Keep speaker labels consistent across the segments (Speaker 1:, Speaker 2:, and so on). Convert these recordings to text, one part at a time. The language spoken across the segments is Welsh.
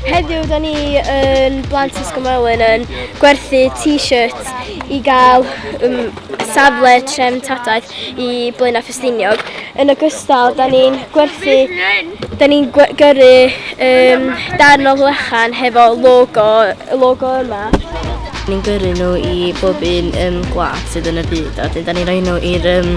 Speaker 1: Heddiw, da ni yn Blant Ysgymwelyn yn gwerthu t-shirts i gael um, safle trefn tadaeth i Blaenau Ffestiniog. Yn ogystal, da ni'n gwerthu, da ni'n gyrru um, darn o flechan hefo logo, y logo yma. Ni'n gyrru nhw i bob un um, gwlad sydd yn y byd, a dyn da ni'n rhoi nhw i'r um,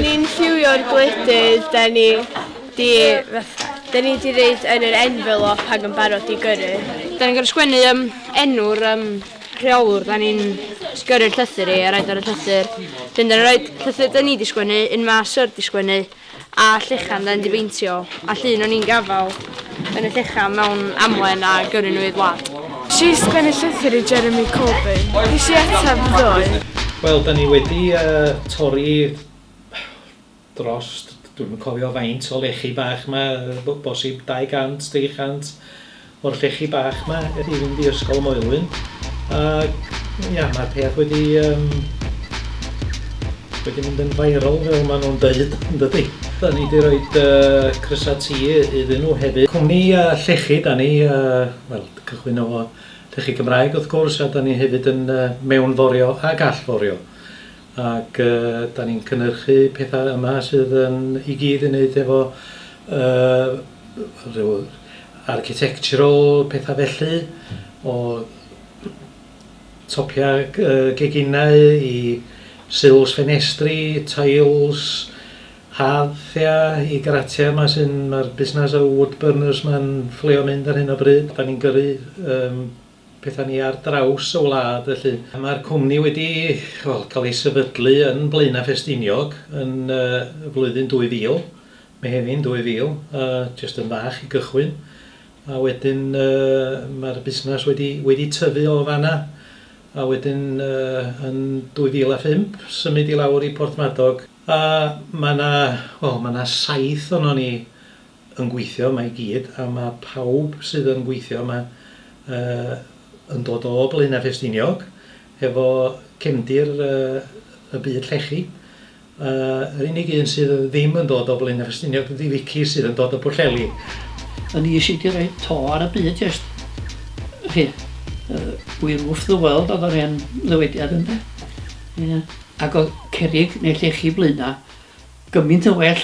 Speaker 1: Ni'n lliwio'r gwledydd, da ni di, da ni di reid yn yr envelop ac yn barod i gyrru. Da ni'n gorau sgwennu um, enw'r um, rheolwr, da ni'n gyrru'r llythyr i a roed ar y llythyr. Wedyn da ni'n rhoi llythyr da ni di sgwennu, un mae Sir di sgwennu, a llechan da ni di beintio, a llun o'n i'n gafael yn y llechan mewn amlen a gyrru nhw i'r wlad. Nes i sgwennu llythyr i Jeremy Corbyn. Nes i ateb ddoe. Wel, da ni wedi torri dros, dwi'm yn cofio faint o lechi bach 'ma, yy bosib 200, 300 o'r llechi bach 'ma i fynd i Ysgol Moelwyn ac ia, ma'r peth wedi yym wedi mynd yn viral fel ma' nhw'n deud yn dydi? 'Da ni 'di roid yy crysau T iddyn nhw hefyd. Cwmni yy llechi 'da ni yy wel cychwyn efo llechi Cymraeg wrth gwrs a 'da ni hefyd yn yy mewnforio ac allforio. ac dan ni'n cynnyrchu pethau yma sydd yn i gyd yn neud efo yy rhyw architectural pethau felly o topiau yy geginau i sills ffenestri, tiles, harddia i garatia yma sy'n ma'r busnas y wood burners ma'n fflio mynd ar hyn o bryd dan ni'n gyrru yym pethau ni ar draws y wlad felly. Mae'r cwmni wedi wel, cael ei sefydlu yn Blaenau Ffestiniog yn uh, flwyddyn 2000, Mehefin 2000, uh, jyst yn fach i gychwyn. A wedyn uh, mae'r busnes wedi, wedi tyfu o fanna. A wedyn uh, yn 2005 symud i lawr i Porthmadog. A mae yna, wel, mae yna saith o'n ni yn gweithio yma i gyd a mae pawb sydd yn gweithio yma uh, yn dod o Blaenau Ffestiniog efo cefndir uh, y byd llechi. Uh, yr unig un sydd ddim yn dod o Blaenau Ffestiniog ydy Vicky sydd yn dod o Bwlleli. Yn ni sydd wedi rhoi to ar y byd jest. Chi, uh, we roof the world oedd yr hen ddywediad ynddo. Yeah. Ac oedd cerig neu llechi blaenau gymaint yn well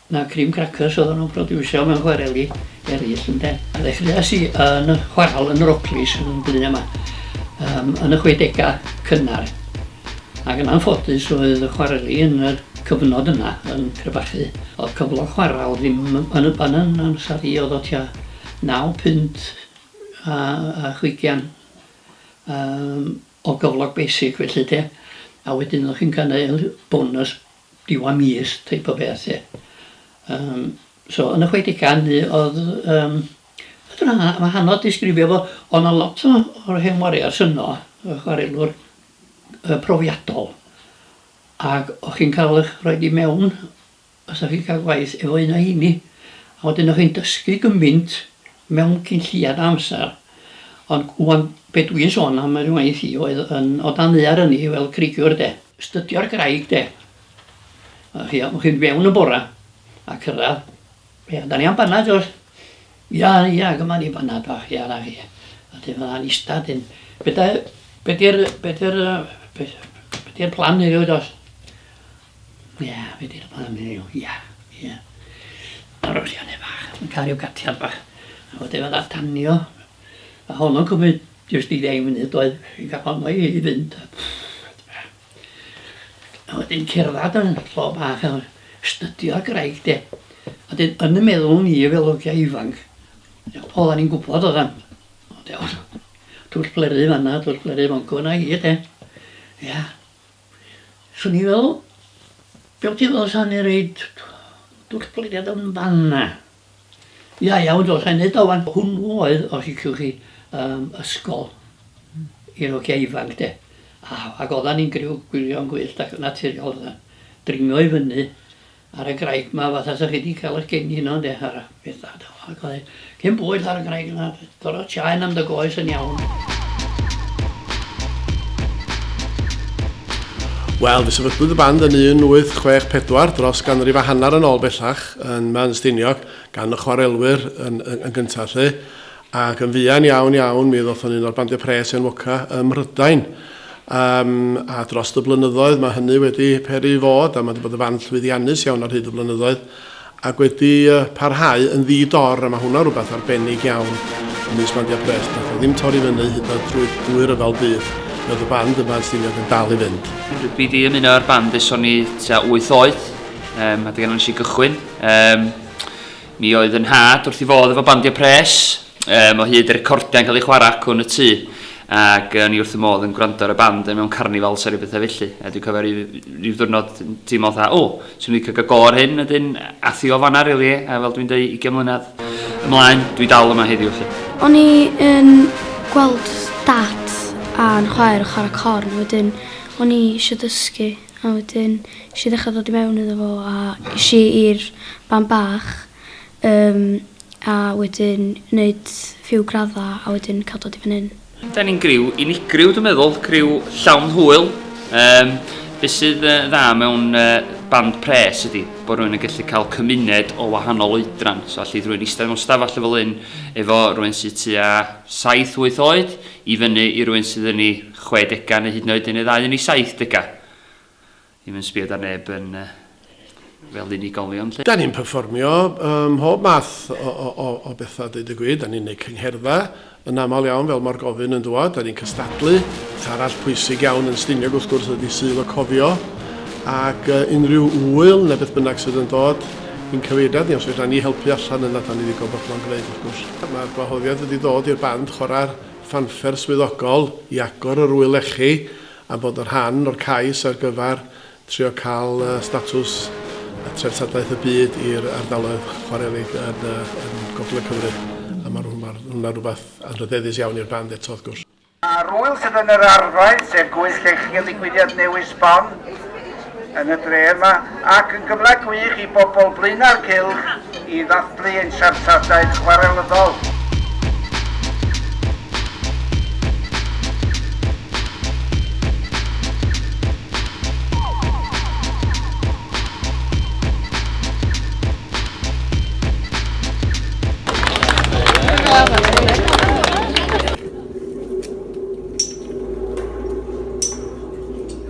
Speaker 1: na cream crackers oddan nhw'n produsio mewn chwareli eraill ynde. A ddechreuais i yn chwaral yn Rocklys yn Blaenau 'ma um, yn y chwedegau cynnar ac yn anffodus oedd y chwareli yn y cyfnod yna yn crebachu. Oedd cyflog chwaral ddim yn y pan yn amser i oedd o tua 9 punt a, a chwigian um, o gyflog basic felly de. A wedyn oedd chi'n cael bonus diwedd mis teip o beth 'lly. Yym so yn y chwedegau hynny o'dd yym fedrwn a- a- ma' hanodd disgrifio fo o' 'na lot o o'r hen wariars yno y chwarelwr yy profiadol ag o' chi'n ca'l y'ch rhoid i mewn os o'ch chi'n ca'l gwaith efo un o heini a wedyn o'ch chi'n dysgu gymaint mewn cyn lleiad o amsar. Ond ŵan be dw i'n sôn am yr ngwaith i oedd yn o dan ddaear ynni fel creigiwr de. Studio'r graig de. O'ch chi o'ch chi'n fewn yn bora a cyrraedd Ia, da ni am banad does? Ia, ia, gyma ni banad bach, ia, na chi. A dyn fydda'n ista dyn. Be da, be di'r, be di'r, be di'r plan heddiw does? Ie, fi 'di rhannu o, ie, ie. Ar y sianel bach, yn cael ryw gatiad bach. A wedyn fydda danio, a honno'n cymryd jyst i ddeng munud doedd, fi'n cael honno i i fynd a a wedyn cerddad yn lle bach a stydio graig de. A 'dyn yn 'y meddwl ni fel ogia ifanc, oddan ni'n gwbod oddan, twll blerydd fan 'na twll blerydd fan 'co 'na i de. Ia. Swn i fel be wt ti fel sa ni reid dwll plediad yn fanna. Ia iawn dos a neud o wan. Hwnnw oedd os liciwch chi yym ysgol i'r ogia ifanc de a ag oddan ni'n griw gwirion gwyllt ac yn naturiol oddan. Dringo i fyny Ar y graig 'ma fatha 'sa chi 'di ca'l 'ych geni yno ynde ar y peth da do ag oedd cyn bwyll ar y graig yna gor'o' tsiaen am dy goes yn iawn. Wel, fe sefydlwyd y band yn 1864, dros ganrif a hanner yn ôl bellach, yn Meanstiniog, gan y chwarelwyr yn, yn, yn gyntaf lle. Ac yn fuan iawn iawn mi ddoth o'n un o'r bandiau pres enwoca ym Mhrydain. Yym, a drost y blynyddoedd mae hynny wedi peri i fod, a mae 'di bod yn fan llwyddiannus iawn ar hyd y blynyddoedd, ac wedi parhau yn ddi-dor, a mae hwnna rhywbeth arbennig iawn ymysg bandiau pres. Nath o ddim torri fyny hyd yn oed drwy drwy ryfel byd. Mi oedd y band yma yn Stiniog yn dal i fynd. Dwi 'di ymuno â'r band ers o'n i tua wyth oed, yym, a dyna nes i gychwyn. Yym. Mi oedd fy nhad wrth ei fodd efo bandiau pres, yym, o hyd y recordiau'n cael eu chwarae acw yn y tŷ, ac o'n i wrth fy modd yn gwrando ar y band mewn carnifals a rhyw bethau felly. A dwi'n cofio rhyw, rhyw ddwrnod yn teimlo fatha, o, swn i'n licio cael go ar hyn, wedyn ath i o fanna rili, really, a fel dwi'n dweud, 20 mlynedd ymlaen, dwi dal yma heddiw felly. O'n i yn gweld dad a'n chwaer yn chwarae corn, wedyn o'n i eisiau dysgu. A wedyn esh i ddechra dod i mewn iddo fo a esh i i'r band bach yym a wedyn neud few gradda a wedyn ca'l dod i fan 'yn. Ydan ni'n griw unigryw dwi'n meddwl, criw llawn hwyl. Yym be' sydd yy dda mewn yy band pres ydi bo' rywun yn gallu ca'l cymuned o wahanol oedran, so allith rywun ista mewn stafall fel 'yn efo rywun sy tua saith wyth oed i fyny i rywun sydd yn 'i chwedegau neu hyd yn oed yn ei ddau yn ei saithdegau. Ddim yn sbio 'da neb yn fel unigolion 'lly. Da ni'n perfformio ym mhob math o bethau deud y gwir. Da ni'n neud cyngherddau yn aml iawn fel ma'r gofyn yn dwad. Da ni'n cystadlu. Beth arall pwysig iawn yn Stiniog wrth gwrs ydi Sul y Cofio ac unrhyw ŵyl neu beth bynnag sydd yn dod i'n cyfeiriad ni os fedran ni helpu allan yna da ni ddigon bodlon gneud wrth gwrs. Ma'r gwahoddiad wedi dod i'r band chwarae'r ffanffer swyddogol i agor yr ŵyl lechi a bod yn rhan o'r cais ar gyfer trio cael statws treftadaeth y byd i'r ardaloedd chwarelig yn Gogledd Cymru a mae hwnna'n rhywbeth anrhydeddus iawn i'r band eto wrth gwrs. A'r ŵyl sydd yn yr arfau, sef Gwyllt Llechi a digwyddiad newydd sbon. yn y dre yma ac yn gyfle gwych i bobl Blaenau'r Cylch i ddathlu ein siartadaeth chwarelyddol.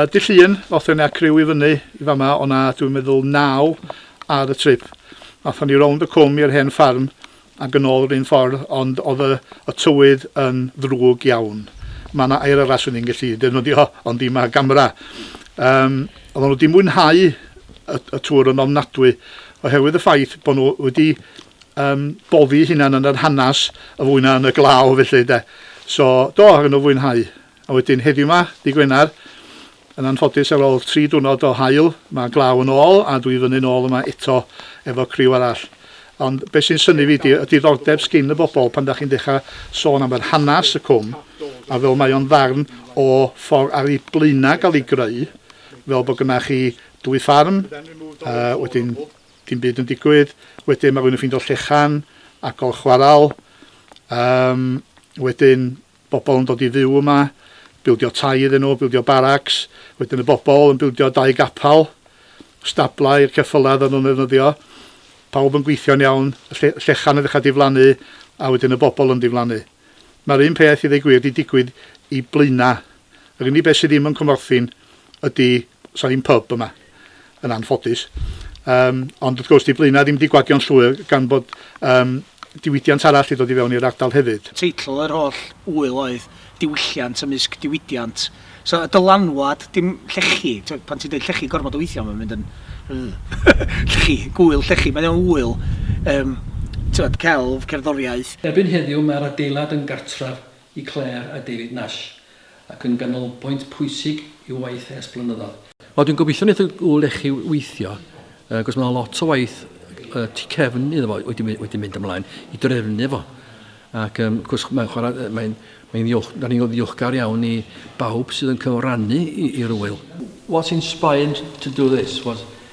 Speaker 1: Uh, Dy llun, ddoth yna criw i fyny i fama, o'na dwi'n meddwl naw ar y trip. Athon ni rownd y cwm i'r hen ffarm, ac yn ôl yr un ffordd ond oedd y, y tywydd yn ddrwg iawn. Mae yna air arall swn i'n gallu defnyddio ond i mae gamera. Um, oedd nhw wedi mwynhau y, y tŵr yn ofnadwy oherwydd y ffaith bod nhw wedi um, boddi hunan yn yr hanes y fwy na yn y glaw felly de. So do, oedd nhw fwynhau. A wedyn heddiw 'ma, dy' Gwener, yn anffodus ar ôl tri diwrnod o haul, mae glaw yn ôl a dwi fyny nôl yma eto efo criw arall. Ond be' sy'n synnu fi 'di y diddordeb sgin y bobol pan 'dach chi'n dechra sôn am yr hanas y cwm a fel mae o'n ddarn o ffor ar 'i blaena' ga'l 'i greu fel bo' gynna chi dwy ffarm a wedyn dim byd yn digwydd, wedyn ma' rywun yn ffindo llechan a gol chwaral, yym wedyn bobl yn dod i fyw yma, bildio tai iddyn nhw, bildio baracs, wedyn y bobl yn bildio dau gapal, stablau i'r ceffylau oedden nhw'n ddefnyddio, pawb yn gweithio'n iawn, y lle, llechan yn ddechrau diflannu, a wedyn y bobl yn diflannu. Mae'r un peth, i ddweud gwir, di digwydd i Blaenau. Yr unig beth sydd ddim yn Cwmorthin, ydy, sa ddim pub yma, yn anffodus. Um, ond wrth gwrs, di Blaenau ddim wedi gwagio'n llwyr gan bod um, diwydiant arall wedi dod i fewn i'r ardal hefyd. Teitl yr holl wyl oedd diwylliant ymysg diwydiant. So, y dylanwad, dim llechi, pan ti'n dweud llechi gormod o weithiau, mae'n mynd yn... llechi, gwyl llechi, mae'n iawn wyl. Um, celf, cerddoriaeth. Erbyn heddiw mae'r adeilad yn gartref i Claire a David Nash, ac yn ganolbwynt pwysig i'w waith ers blynyddoedd. Wel dwi'n gobeithio wneith y ŵyl lechi weithio, yy cos mae lot o waith yy tu cefn iddo fo wedi my- wedi mynd ymlaen i drefnu fo. Ac yym wrth gwrs mae'n chwarae yy mae'n mae'n ddiolch da ni'n ddiolchgar iawn i bawb sydd yn cyfrannu i i'r ŵyl. What inspired to do this was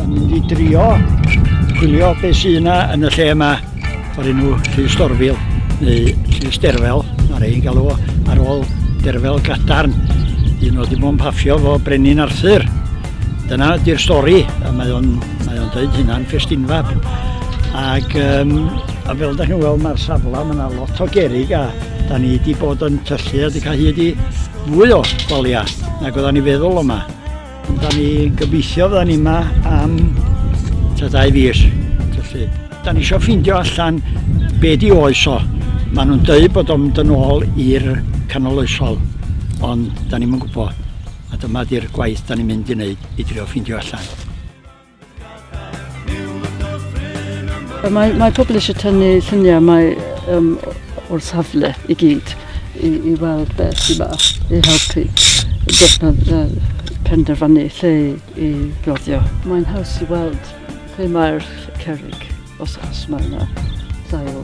Speaker 1: Yn mynd i drio chwilio beth sydd yna yn y lle yma o'r enw Llys Dorfil neu Llys Derfel, mae rhai'n galw o ar ôl Derfel Gadarn, un oedd dim ond paffio fo Brenin Arthur. Dyna ydy'r stori, a mae o'n, mae o'n dweud hynna'n ffestinfab. Ac um, a fel da chi'n weld mae'r safle, mae yna lot o gerig a da ni wedi bod yn tyllu a wedi cael hyd i Mwy o walia nag oeddan ni feddwl yma. Ond da ni gobeithio fydda ni yma am ta dau fis. Felly, da ni eisiau ffeindio allan be di oes o. Maen nhw'n dweud bod o'n mynd yn ôl i'r canol oesol, ond da ni'n gwybod. A dyma di'r gwaith da ni'n mynd i wneud i drio ffeindio allan. Mae, mae pobl eisiau tynnu lluniau mae, um, o'r safle i gyd i, i weld beth sy'n ma i helpu penderfynu lle i roddio. Mae'n haws i weld lle mae'r cerrig. Os os mae yna ddail.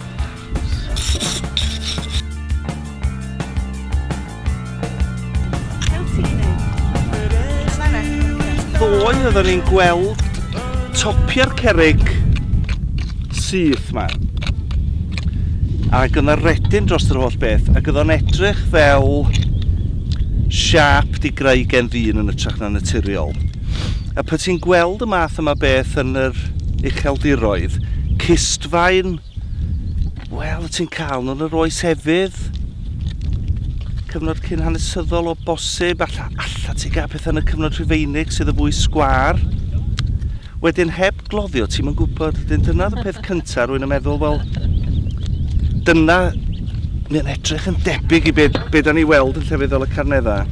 Speaker 1: Ddoe oeddwn ni'n gweld topiau'r cerig syth ma. Ac yna redyn dros yr holl beth, ac yna edrych fel siap di greu gen ddyn yn ytrach na naturiol. A pan ti'n gweld y math yma beth yn yr ucheldiroedd, cistfaen, wel, wyt ti'n cael nhw yn yr oes efydd, cyfnod cyn hanesyddol o bosib, alla, alla ti gael pethau yn y cyfnod rhufeinig sydd y fwy sgwar. Wedyn heb gloddio, ti'n mynd gwybod, wedyn dyna y peth cyntaf, rwy'n yn meddwl, wel, dyna, mae'n edrych yn debyg i beth be da ni weld yn llefydd fel y Carneddau.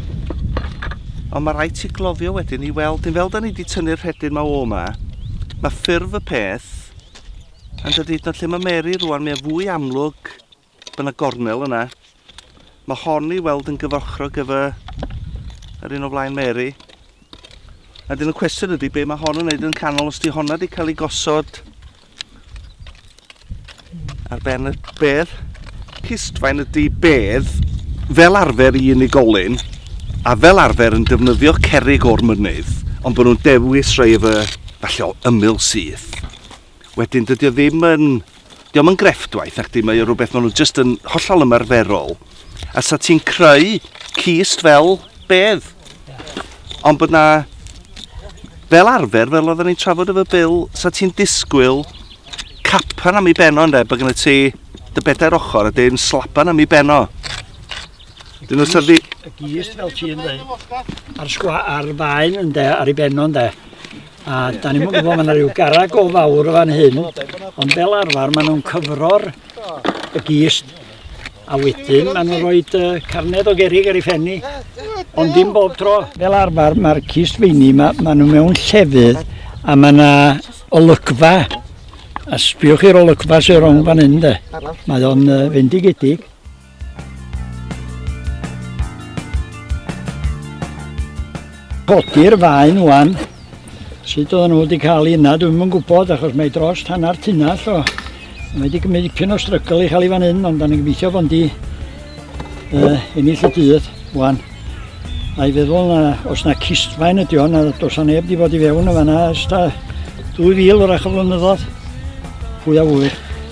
Speaker 1: Ond mae rhaid ti gloddio wedyn i weld hyn. Fel da ni wedi tynnu'r rhedyn ma o yma, mae ffurf y peth yn dod hyd yn oed lle mae Mary rwan, mae'n fwy amlwg bod yna gornel yna. Mae hon i weld yn gyfochrog efo yr un o flaen Mary. A dyn y cwestiwn ydy be mae hon yn neud yn canol os di honna wedi cael ei gosod Ar ben y bedd, cistfaen ydy bedd fel arfer i unigolyn a fel arfer yn defnyddio cerig o'r mynydd, ond bod nhw'n dewis rhai efo falle o ymyl syth. Wedyn dydy o ddim yn... Diolch yn grefftwaith ac di, mae o rhywbeth maen nhw jyst yn hollol ymarferol. A sa ti'n creu cist fel bedd. Ond bod na, fel arfer, fel oedden ni'n trafod efo Bill, sa ti'n disgwyl capan am ei beno ynde, bod gen ti dy bedair ochr a dyn slapan am ei beno. Dyn nhw'n syrdi... Y gist fel ti'n dweud, a'r sgwa, a'r faen ynde, ar ei beno ynde. A da ni'n gwybod, mae yna rhyw garag o fawr o fan hyn, ond fel arfer maen nhw'n cyfro'r y gist A wedyn maen nhw'n rhoi uh, carned o gerig ar ei phen ni, ond dim bob tro. Fel arfer, mae'r cist feini, mae, maen nhw mewn llefydd a mae yna olygfa. A sbiwch i'r olygfa sy'n rhwng fan hyn, de. Mae o'n uh, fendigedig. Codi'r faen wan. Sut oedden nhw wedi cael ei yna, dwi'm yn gwybod, achos mae dros hanner tunnell o. Mae wedi gymryd dipyn o strygl i cael ei fan hyn, ond da ni'n gobeithio bod di uh, ennill y dydd, wan. A'i feddwl na, os na cistfaen ydi o'n, a dos a neb di bod i fewn y fanna, ys ta 2000 o'r ach o flynyddoedd. Pwy a fwy.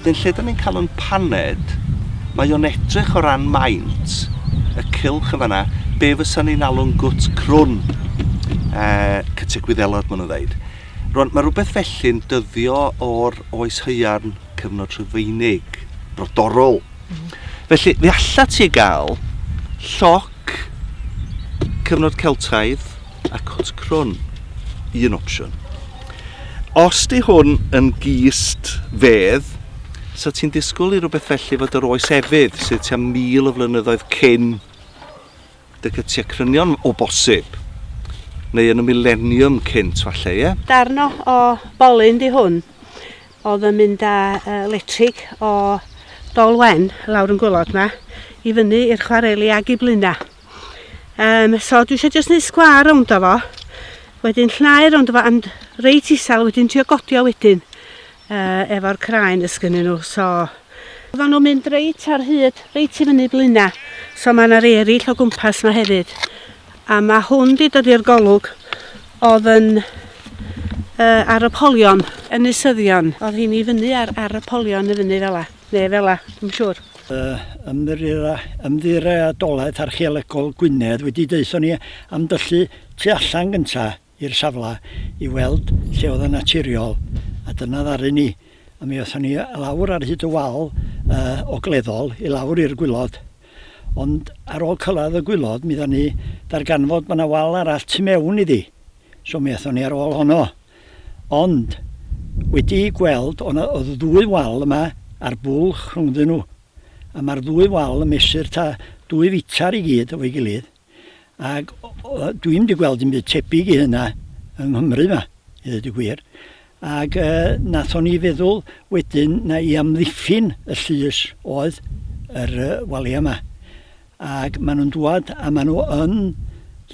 Speaker 1: Dyn lle da ni'n cael yn paned, mae o'n edrych o ran maint y cylch yn fanna, be fysa ni'n alw'n gwt crwn, uh, cytiau gwyddelod maen nhw'n ddeud. Rwan, mae rhywbeth felly'n dyddio o'r oes hyairn cyfnod rhyfeinig, brodorol. Mm. Felly, fe allat ti gael lloc cyfnod Celtaidd, a cwt crwn, un opsiwn. Os di hwn yn gist fedd, so ti'n disgwyl i rhywbeth felly fod yr oes efydd sydd tua mil o flynyddoedd cyn dy cytiau crynion o bosib, neu yn y mileniwm cynt falle, ie? Darn o, o bolyn di hwn, oedd yn mynd â uh, letrig o Dolwen lawr yn gwylod ma, i fyny i'r chwareli ag i blina. Um, so dwi eisiau jyst neud sgwar rownd o fo. Wedyn llnau rownd o fo and reit isel wedyn trio godio wedyn uh, efo'r craen ys gynnyn nhw. So Oedden nhw'n mynd reit ar hyd, reit i fyny blina. So mae yna rei eraill o gwmpas yma hefyd. A mae hwn di dod i'r golwg oedd yn uh, ar y polion. Yn nysyddion. Oedd hi'n i fyny ar, ar y polion y fyny fel la. Neu fela, yn siŵr. Yy, Ymddiriedolaeth Archeolegol Gwynedd wedi deutho ni am dyllu tu allan gynta i'r safle i weld lle oedd yn naturiol, a dyna ddaru ni. A mi aethon ni lawr ar hyd y wal uh, ogleddol i lawr i'r gwylod. Ond ar ôl cyrraedd y gwylod, mi dda ni darganfod bod yna wal arall tu mewn iddi. So mi aethon ni ar ôl honno. Ond, wedi'u gweld, o' 'na o'dd ddwy wal yma a'r bwlch rhwngddyn nhw, a ma'r ddwy wal yn mesur ta dwy fitr i gyd efo'i gilydd, ag dwi'm 'di gweld dim byd tebyg i hynna yng Nghymru 'ma, i ddeud y gwir. Ag yy nathon ni feddwl wedyn na i amddiffyn y llys oedd yr yy walia 'ma. Ac maen nhw'n dŵad a maen nhw yn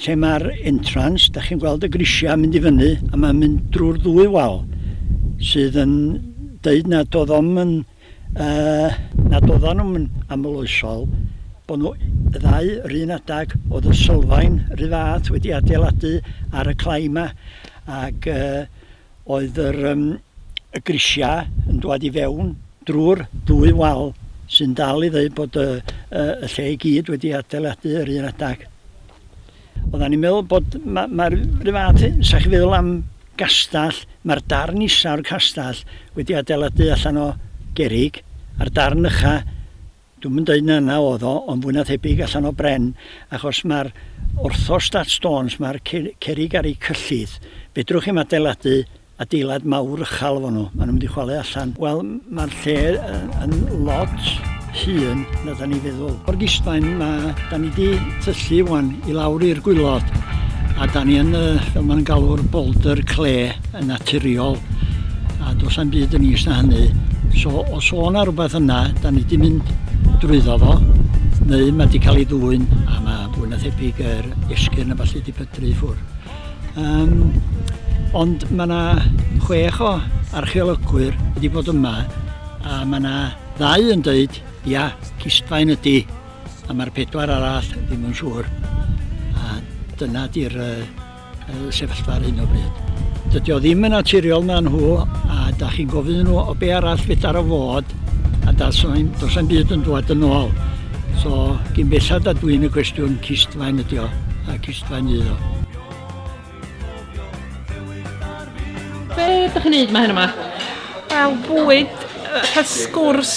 Speaker 1: lle mae'r entrance, da chi'n gweld y grisiau yn mynd i fyny a mae'n mynd drwy'r ddwy wal sydd yn deud nad oedd o'n yn, uh, nad oedden nhw'n amloesol bod nhw y ddau yr un adag oedd y sylfaen rhy fath wedi adeiladu ar y clai yma ac uh, oedd yr um, y grisiau yn dwad i fewn drwy'r ddwy wal sy'n dal i ddweud bod y, y, y lle i gyd wedi adeiladu yr un adag. Oedden ni'n meddwl bod mae'r ma, ma rhyw fath, sa'ch chi feddwl am gastell, mae'r darn isaf o'r castell wedi adeiladu allan o gerig, a'r darn ycha Dwi'm yn deud na 'na o'dd o, ond fwy na thebyg allan o bren, achos ma'r orthostat stones, ma'r cerrig ar eu cyllid, fedrwch chi'm adeiladu adeilad mawr uchal efo nhw, ma' nhw'n mynd i chwalu allan. Wel, ma'r lle yn lot hŷn na 'dan ni'n feddwl. O'r gistfaen, ma'... 'dan ni 'di tyllu ŵan i lawr i'r gwilod, a 'dan ni yn y, fel ma' nhw'n galw'r boulder clay. yn naturiol a does na'm byd yn is na hynny. So os o' 'na rhywbeth yna, da ni 'di mynd drwyddo fo, neu mae 'di cael ei ddwyn a mae fwy na thebyg yr esgyrn a ballu 'di pydru i ffwrdd. Um, ond mae yna chwech o archeolygwyr wedi bod yma a mae yna ddau yn dweud, ia, cistfaen ydy, a mae'r pedwar arall ddim yn siŵr. A dyna di'r uh, sefyllfa ar hyn o bryd. Dydy o ddim yn naturiol na nhw a da chi'n gofyn nhw o be arall fedar o fod a dos am byd yn dod yn ôl. So, gyn bellad a dwi'n y cwestiwn cistfaen ydi o a cistfaen ydi o. Be ydych chi'n neud mae hyn yma? Wel, bwyd, cael sgwrs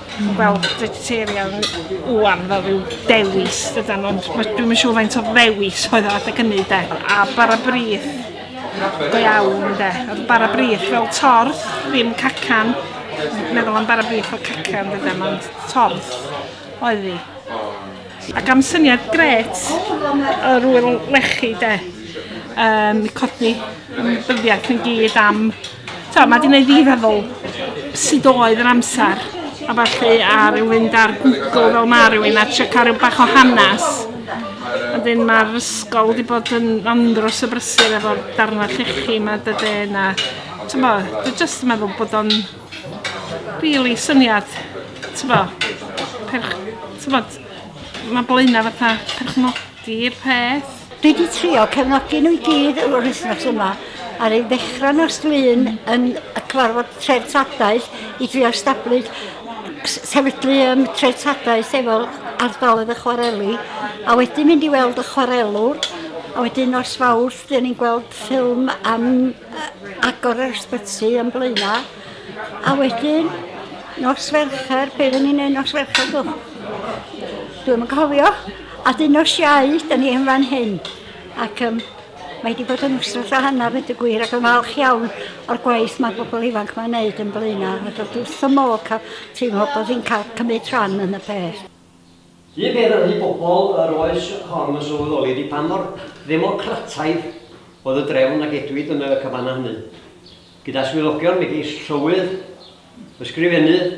Speaker 1: Wel, vegetarian ŵan fel rhyw dewis dydan, ond dwi'n mynd siŵr faint o ddewis oedd o adeg hynny de. A bara brith, go iawn de. Oedd bara brith fel torth, ddim cacan. Meddwl am bara brith fel cacan dydan, ond torth oedd hi. Ac am syniad gret yr wyl lechi de, um, codi ymwybyddiaeth yn gyd am, to, mae wedi gwneud fi feddwl sut oedd yr amser a falle a rhyw fynd ar Google fel mae rhywun a trio cael rhyw bach o hanes. Wedyn mae'r ysgol wedi bod yn andros o brysur efo'r darnau llechi yma dydy na, ti'n bod, dwi'n jyst yn meddwl bod o'n Rili syniad t'bo perch- t'mod ma' Blaena' fatha perchnogi'r peth. Dwi 'di trio cefnogi nhw i gyd yr wythnos yma a ry'n ddechra nos Lun yn y cyfarfod treftadaeth i drio stablu'r sefydlu yym treftadaeth efo ardaloedd y chwareli a wedyn mynd i weld y chwarelwr a wedyn nos Fawrth 'dyn ni'n gweld ffilm am agor yr ysbyty yn blaena. A wedyn, nos Fercher, be oedden ni'n neud nos Fercher dw? Dwi'n yn cofio. A dyn nos Iau, da ni yn fan hyn. Ac um, mae wedi bod yn wsnos o hanner wedi gwir ac yn falch iawn o'r gwaith mae bobl ifanc mae'n neud yn blaena. Mae dod wrth y môl cael teimlo bod hi'n cael cymryd rhan yn y peth. Ni fydd yn rhy bobl yr oes hon yn sylweddoli di pa mor ddemocrataidd oedd y drefn a gedwid yn y cabana hynny, gyda swyddogion megis llywydd, ysgrifennydd,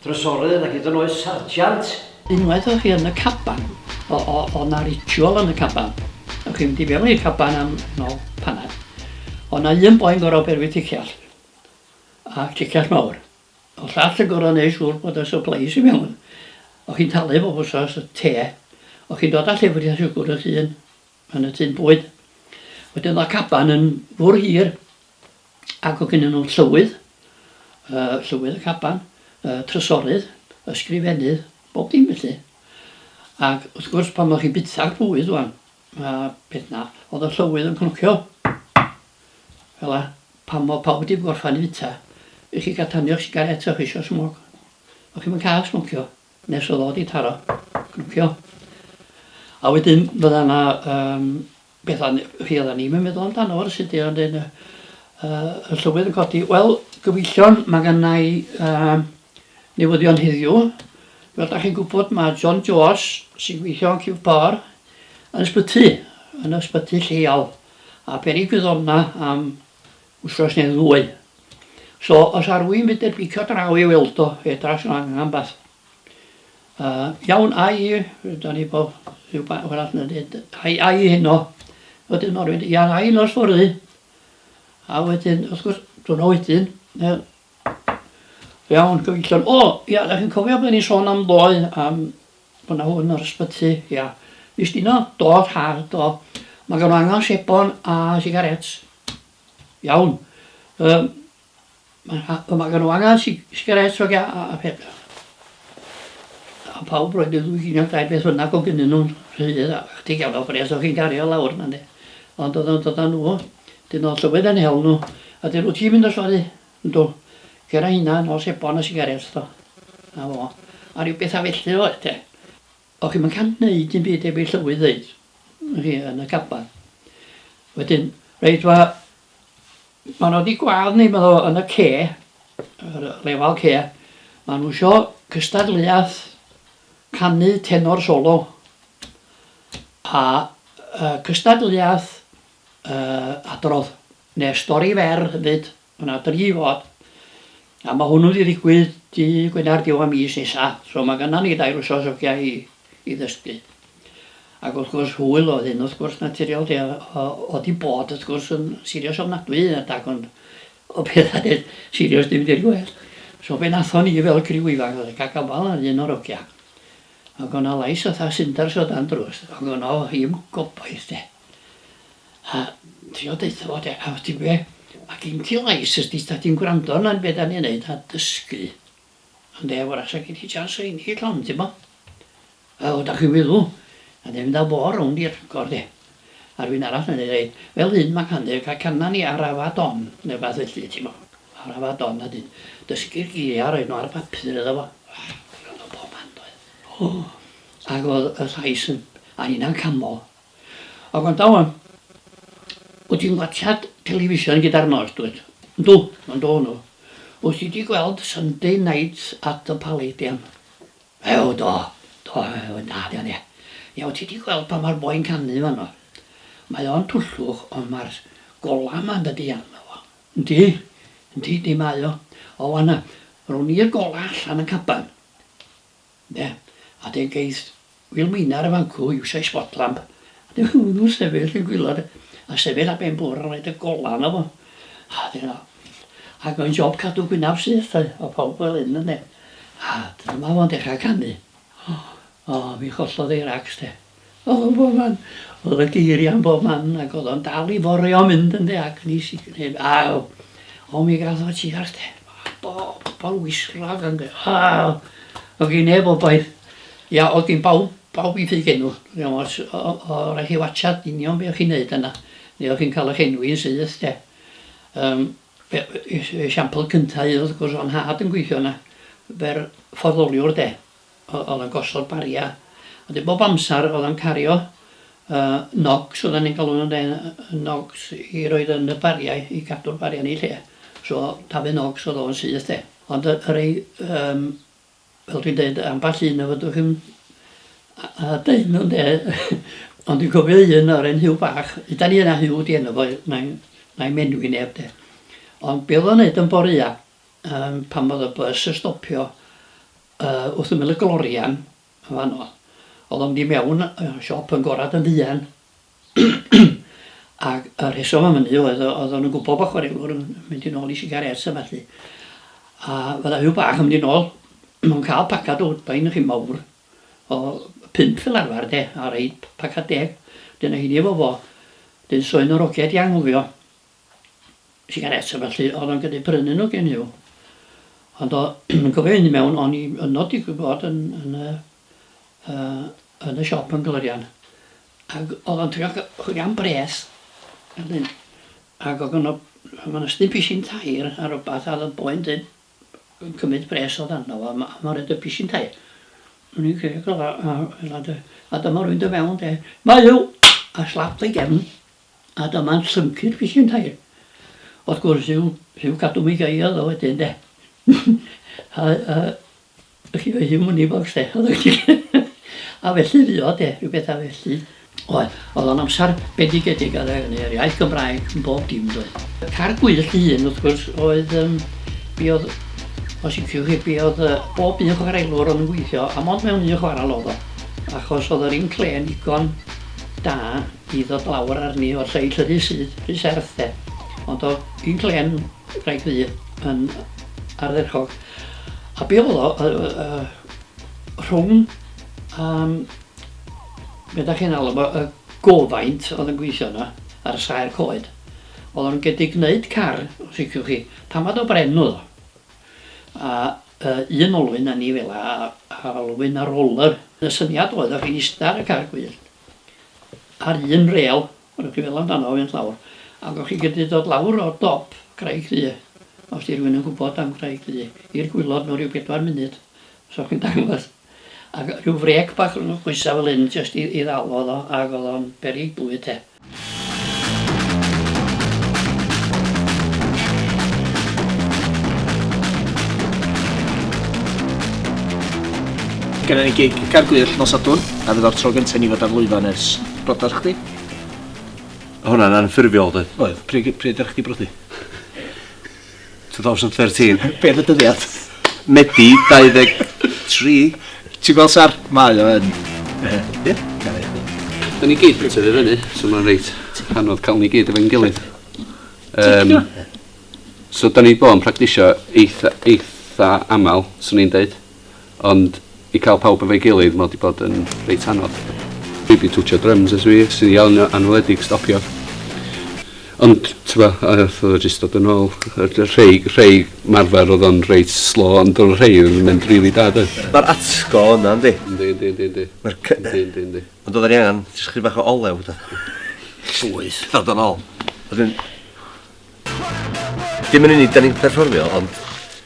Speaker 1: drysorydd ac hyd yn oes sarjant! Unwaith o'ch chi yn y caban, o, o, o' 'na ritual yn y caban. O'ch chi'n mynd i fewn i'r caban am, yn ôl paned, o' 'na un boi'n gorfod berwi ticell, a ticell mawr. Yn llall yn gor'o' neu' siŵr bod y supplies i mewn. O' chi'n talu bob wsos y te. O' chi'n dod â llefrith a siwgwr y llun yn y tun bwyd. Wedyn o'dd y caban yn fwrw hir ac o' gynnyn nhw llywydd, yy llywydd y caban, y trysorydd, ysgrifennydd, bob dim felly. Ac wrth gwrs pan o'ch chi'n bita'r bwyd ŵan, a peth 'na, o'dd y llywydd yn cnocio. Fela. Pam fo pawb wedi gorffan i fita i chi ga'l tanio'ch sigaret o'ch chi isio smog? O'ch chi'm yn ca'l smocio nes y ddo di taro. Cnocio. A wedyn fydda na um, betha rhi odda ni'm yn meddwl amdano fo rywsut di ond yn uh, y llywydd yn codi. Wel, gyfeillion, mae gynna i um, newyddion heddiw. Fel da chi'n gwybod mae John George sy'n gweithio yn Cif Por yn ysbyty, yn ysbyty lleol. a peri gwyddona am wsos neu ddwy. So os ar rwy'n mynd i'r bicio draw i weld o, fedra os yna angen beth. Uh, iawn, ai, da ni bo, rhyw ba, fel all yna dweud, ai, ai heno, fod yn orwyd, iawn, ai nos fori, a wedyn, wrth gwrs, dwi'n o wedyn, Iawn, gyfeillion. O, ia, da chi'n cofio bod ni'n sôn am ddoe, am bod na hwn yr ysbyty, ia. Mis dino, do, rhad, do. Mae gan angen sebon a sigarets. Iawn. Um, mae gan angen sigarets o a, a peth. A pawb roed y ddwy gynio dau beth fynnag o gynnyn nhw'n rhydd, a chdi gael o bres o'ch chi'n gario lawr, na ne. Ond oedd o'n dod â nhw. Dyn o llywydd yn hel nhw. A dyn wt ti'n mynd o sori? Yndw. Cer a hynna nol sebon a sigarets do. Na fo. A rhyw betha felly oedd te. O chi'm yn can neud dim byd heb i llywydd ddeud i chi yn y caban. Wedyn reit wa ma nhw di gwad ni medda fo yn y ce yr lefal ce ma nhw isio cystadleuaeth canu tenor solo a yy cystadleuaeth Yy adrodd ne stori fer hefyd ma na dri fod a ma hwnnw di ddigwydd dy Gwener diwedd mis nesa so ma gynna ni dair wsos ogia i i ddysgu ag wrth gwrs hwyl oedd hyn wrth gwrs naturiol de o o di bod wrth gwrs yn sirios ofnadwy yn adag ond o petha deud sirios dim di'r gwedd so be nathon ni fel criw ifanc oedd ca gafal ar un o'r ogia ag o na lais fatha sinders o dan drws ag o na o hi'm gobaith de. A trio deutha fo de, a ti'n gwe, ma gin ti lais os di ta ti'n gwrando arna be da ni'n neud a dysgu ynde, wrach sa gin ti chance o ennill hon ti'n bo. Wel da chi'n feddwl, a ni'n mynd a fo rownd i'r agor de, a rywun arall yn neud reit, fel hyn ma can de, ca cana ni ar afa don ne wbath felly ti'n bo, ar afa don a dyn dysgu'r geiriau a roid nhw ar bapur iddo fo. Wel, o, ag o'dd y llais yn, a nina'n camol. A gwrandawn, wyt ti'n watsiad television gyda'r nos, dwyt? Yndw, yndw, yndw. Wyt ti 'di gweld Sunday Night at the Palladium? Ew, do, do, mae'n da, di o, ynde. Ie, wyt ti 'di gweld pan mae'r boi'n canu fanno? Mae o'n twllwch, ond mae'r golau yma yn dy deall, medda fo. Yndi, yndi, yndi, mae o. O, wan, rown i'r golau allan yn caban. Ynde? A 'dyn geith Wil Meinar ar y fancŵ iwsio'i spot lamp a dyw hwnnw ddim yn sefyll yn gwilod a sefyll ar ben bwrdd a rhoid y golau arno fo. A 'dyn o. Ac mae'n job cadw gwynaf syth yy o pawb fel hyn ynde? A dyma fo'n dechra canu. O mi chollodd ei rags de. O'dd o bob man. O'dd yna geiria yn bob man ag o'dd o'n dal i forio a mynd ynde ac nes i gneud a o o mi gath o tua chdi bobol wisg-wrog ynde o o gin neb wboeth ia o gin bawb bawb i ffydd enw ia ots o o o raid chi watsiad union be' o' chi'n neud yna ne' o' chi'n ca'l y'ch enwi'n syth de yym be- e- e- esiampl cynta i wrth gwrs o'dd 'nhad yn gwithio yna fer fforddoliwr de Oedd o'n gosod bariau. A dyn bob amser oedd o'n cario yy nogs oedden ni'n galw nhw ynde? Y nogs i roid yn y bariau i gadw'r bariau yn eu lle. So dafydd nogs oedd o'n syth de. Ond y y rei yym fel dwi'n deud ambell un y fedrwch chi'm yy deud nhw ynde? Ond dwi'n cofio un o'r 'en Huw bach, hyd yn oed na Huw 'di enw fo na'i na'i enwi neb de. Ond be oedd o'n neud yn boreua yym pan oedd y bys yn stopio Yy wrth ymyl y glorian yn fan 'no o'dd o'n mynd i mewn yy siop yn gorad yn fuan ag y rheswm am hynny oedd o- o'dd o'n yn gwbo bo' chwarelwr yn mynd yn ôl i sigarets a ballu a fydda Huw bach yn mynd i nôl yn ca'l pacad o Woodbine ychydig mowr o pump fel arfar de a roid p- pacad deg dyna hynny efo fo 'dyn so un o'r ogia di anghofio sigaréts a ballu, oedd o'n gallu brynu nhw gen i'w. Ond o, yn gofio hyn i mewn, o'n i yno digwydd bod yn, yn, y, uh, yn y siop yn Glorian. Ac oedd o'n trio chwilio am bres. Ydyn. Ac oedd yno, mae'n ysdyn pisin tair ar rhywbeth, a oedd y boi'n dweud yn cymryd bres oedd arno fo, a mae'n rhaid y pisin tair. O'n i'n credu, a, a, a dyma rwy'n dy fewn, de. Mae yw! A slap ei gefn. A dyma'n symud fishyn tair. Wrth gwrs yw rhyw cadw mi gael o wedyn de. a, a, chi oedd hi'n mwni bocs de. a felly fi o de, rhyw bethau felly. Oedd, oedd o'n amser bendigedig ar yr iaith Gymraeg yn bob dim doedd. Y car gwyllt ei hun wrth gwrs oedd um, mi oedd os iciwch chi be oedd uh, bob un chwaraelwr o'n gweithio a mond mewn un chwaral oedd o achos oedd yr inclên ddigon da Di ddod lawr arni o'r seill y rhy syth, rhy serth de. Ond o'dd un clên wraig ddu yn ardderchog. A be' o'dd o yy yy rhwng yym be' 'dach chi'n alw fo y gofaint o'dd yn gwithio yna a'r saer coed o'dd o'n gedig gneud car os liciwch chi. Tamaid o bren o'dd o. A yy un olwyn a ni fela a a olwyn a roller. Y syniad oedd o'ch chi'n ista ar y car gwyllt ar un rêl, rydych chi'n meddwl amdano fo mynd lawr, ac o'ch chi'n gallu dod lawr o dop Craig Ddu, os di rhywun yn gwybod am Graig Ddu, i'r gwylod mewn rhyw bedwar munud, os o'ch chi'n dangos. Ac rhyw frêc bach rhwng y coesau fel hyn, jyst i, i ddal o, ac oedd o'n beryg bwyd, de. Genna ni gig Car Gwyll nos Sadwrn, a fydd o'r tro gyntaf i ni fod ar lwyfan ers brodas chdi? Hwna'n anffurfiol doedd? Oedd, pryd, pryd ydych chdi brodi? 2013. Be am y dyddiad? Medi 23. Ti'n gweld sar? Mae o yn. Ie? Da ni gyd yn tyfu fyny, so mae'n reit anodd cael ni gyd efo'n gilydd. Um, so da ni bod yn practisio eitha, eitha aml, swn i'n dweud. Ond i cael pawb efo'i gilydd mae o 'di bod yn reit anodd. Dwi 'di twtshio dryms ers fi, sy'n iawn yn anweledig stopiodd. Ond t'bo' ath o jyst dod yn ôl. Rhei rhei marfer o'dd o'n reit slo ond o' rhei o'dd yn mynd rili da doedd? Ma'r atgo yna yndi? Yndi yndi yndi yndi. Ma'r cy-... Yndi yndi yndi. Ond odda ni angan jyst chydig bach o olew do? Llwyth. Dod yn ôl. Wedyn... Dim yn unig 'dan ni'n perfformio ond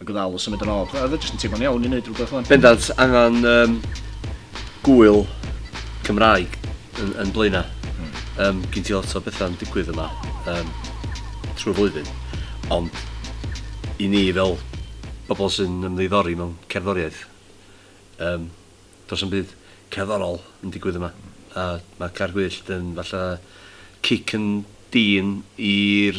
Speaker 1: a gofalu symud yn ôl. Oedd e jyst yn teimlo'n iawn i wneud rhywbeth o'n. Bendant, angen um, gwyl Cymraeg yn, yn blaenau. Mm. Um, Gyn ti lot o bethau'n digwydd yma um, trwy flwyddyn. Ond i ni fel bobl sy'n ymddiddori mewn cerddoriaeth, um, does yn byd cerddorol yn digwydd yma. A mae Caer Gwyllt yn falle cic yn dyn i'r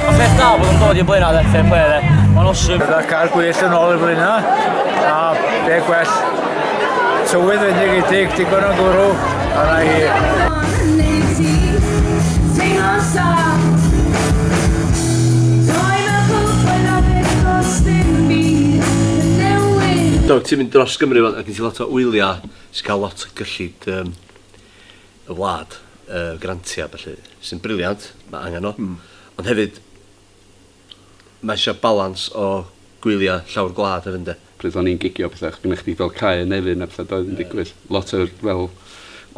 Speaker 1: Mae ffeith dal bod yn dod i'r blaen ar fair play dde. Mae'n awesome. Byddai'r cael gwell yn ôl y flyna, a be gwell tywydd wedi gydig digon o gwrw, a na hi. Do, ti'n mynd dros Gymru fan, a gen ti lot o wyliau sy'n cael lot o gyllid um, y wlad, y grantiau a ballu, sy'n briliant, mae angen nhw, ond hefyd mae eisiau balans o gwyliau llawr gwlad hefyd ynde? Pryd o'n i'n gigio a pethau, oedd gennych chdi fel cae yn Nefyn a pethau doedd yn digwydd, lot o fel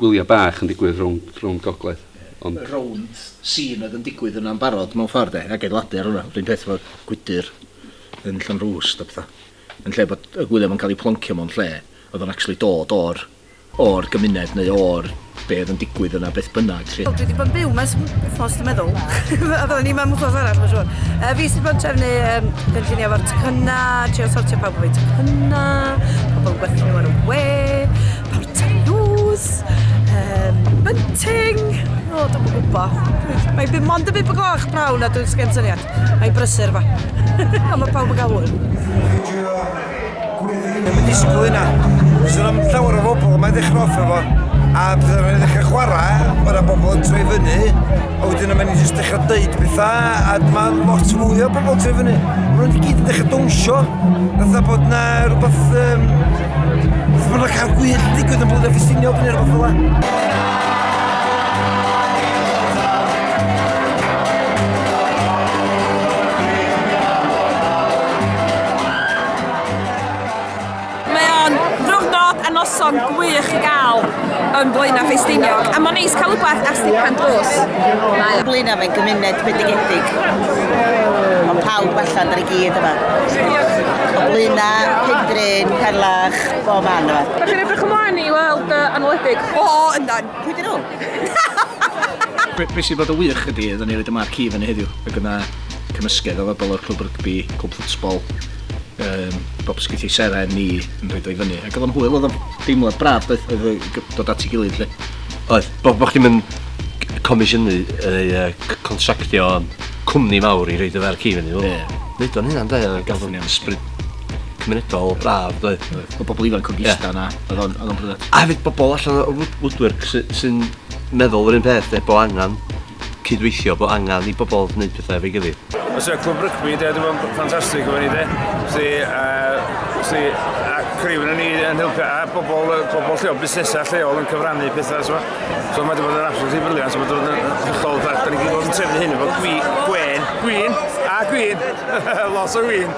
Speaker 1: gwyliau bach yn digwydd rownd rownd gogledd ond... Yr rownd scene oedd yn digwydd yna'n barod mewn ffordd de, ac adeiladu ar hwnna, yr un peth efo gwydr yn Llanrwst a pethau, yn lle bod y gwyliau 'ma'n cael eu ploncio mewn lle oedd o'n actually dod o'r o'r gymuned neu o'r be oedd yn digwydd yna beth bynnag 'lly. Wel dwi 'di bod yn byw 'ma ers wthnos dwi'n meddwl. Odd o'n i 'ma am wthnos arall mae'n siŵr. Yy fi sydd bod trefnu yym gynllunio efo'r tecynna, trio sortio pawb efo'u tecynna, pobl yn gwerthu nhw ar y we, parteus, um, bunting, o dwi'm yn gwybod. Mae byd mond y byd y gloch prawn a dwi'n sgen syniad. Mae'n brysur fa. a mae pawb yn cael hwyl. Ddim yn disgwyl hynna. Does yna ddim llawer o bobl yma i ddechrau off efo. A pryd o'n i'n ddechrau chwarae, mae yna bobl yn troi fyny. A wedyn yma ni jyst dechrau deud pethau, a dyma lot fwy o bobl troi fyny. Mae nhw'n gyd yn dechrau dawnsio. Fytha bod na rhywbeth... Um, Fytha bod na cael gwyll digwydd yn blwyddyn ffestiniog neu rhywbeth fel yna. Mae o'n ddiwrnod a noson gwych i gael yn Blaenau Ffestiniog, a mae'n neis cael rhywbeth ar stipan drws. Mae Blaenau fe'n gymuned bendigedig. Mae pawb allan ar y gyd yma. O Blaenau, Cymdrin, Perlach, bob man yma. Da chi'n edrych ymlaen i weld uh, anwledig? O, o, yndan. Pwy dyn nhw? Be sy'n bod o wych ydy, oedden ni wedi marc i fyny heddiw, ac yna cymysgedd o bobl o'r clwb rygbi, clwb ffwtsbol, um, bob ysgwyth ei seren ni yn rhaid o'i fyny. Ac oedd o'n hwyl, oedd o'n deimlad braf, oedd, oedd dod at ei gilydd lle. Oedd, bo, bo chdi'n mynd comisiynu neu uh, contractio cwmni mawr i reid y fer ci fyny. Yeah. Neud o'n hynna'n da, gael o'n ysbryd cymunedol braf, dweud. Oedd bobl ifanc o gista yna, oedd o'n bryd. A hefyd bobl allan o woodwork sy'n meddwl yr un peth, efo angen cydweithio bod angen i bobl wneud pethau efo'i gilydd. Os yw clwb rygbi de, dwi'n meddwl ffantastig efo ni de. Felly, uh, felly, a criw yn ni yn helpu, a bobl, bobl lleol, busnesau lleol yn cyfrannu pethau, so, so mae wedi bod yn absolutely briliant, mae wedi bod yn hollol, da ni wedi bod yn trefnu hyn efo gwi, gwen, gwyn, a gwyn, lot o gwyn.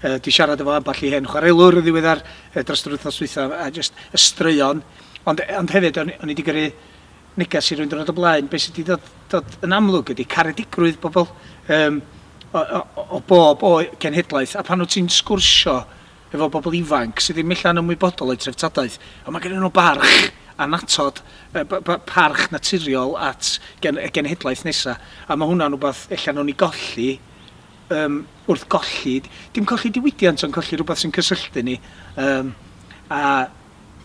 Speaker 1: Yy 'di siarad efo ambell i hen chwarelwr yn ddiweddar yy dros yr wythnos dwytha a jyst y straeon ond e- ond hefyd o'n o'n i 'di gyrru neges i rywun diwrnod o blaen be' sy 'di dod dod yn amlwg ydi caredigrwydd pobl yym o o o o bob oe- cenhedlaeth a pan wt ti'n sgwrsio efo bobl ifanc sy ddim ella'n ymwybodol o'u treftadaeth on' ma' gennyn nw barch annatod yy by- by- parch naturiol at gen- y genhedlaeth nesa a ma' hwnna'n wbath ella newn ni golli Yym, wrth golli, dim colli diwydiant ond colli rhywbeth sy'n cysylltu ni yym a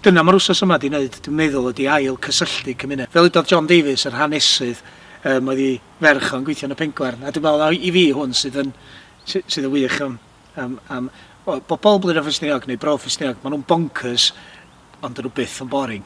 Speaker 1: dyna mae'r wsos yma 'di wneud dwi'n meddwl ydi ail cysylltu cymuned. Fel udodd John Davies yr hanesydd yym oedd i ferch o'n gweithio yn y Pengwern a dwi'n meddwl mai i fi hwn sydd yn sy- sydd yn wych am am am wel bobl Blaenau Ffestiniog neu Bro Ffestiniog maen nhw'n bonkers ond 'dyn nhw byth yn boring.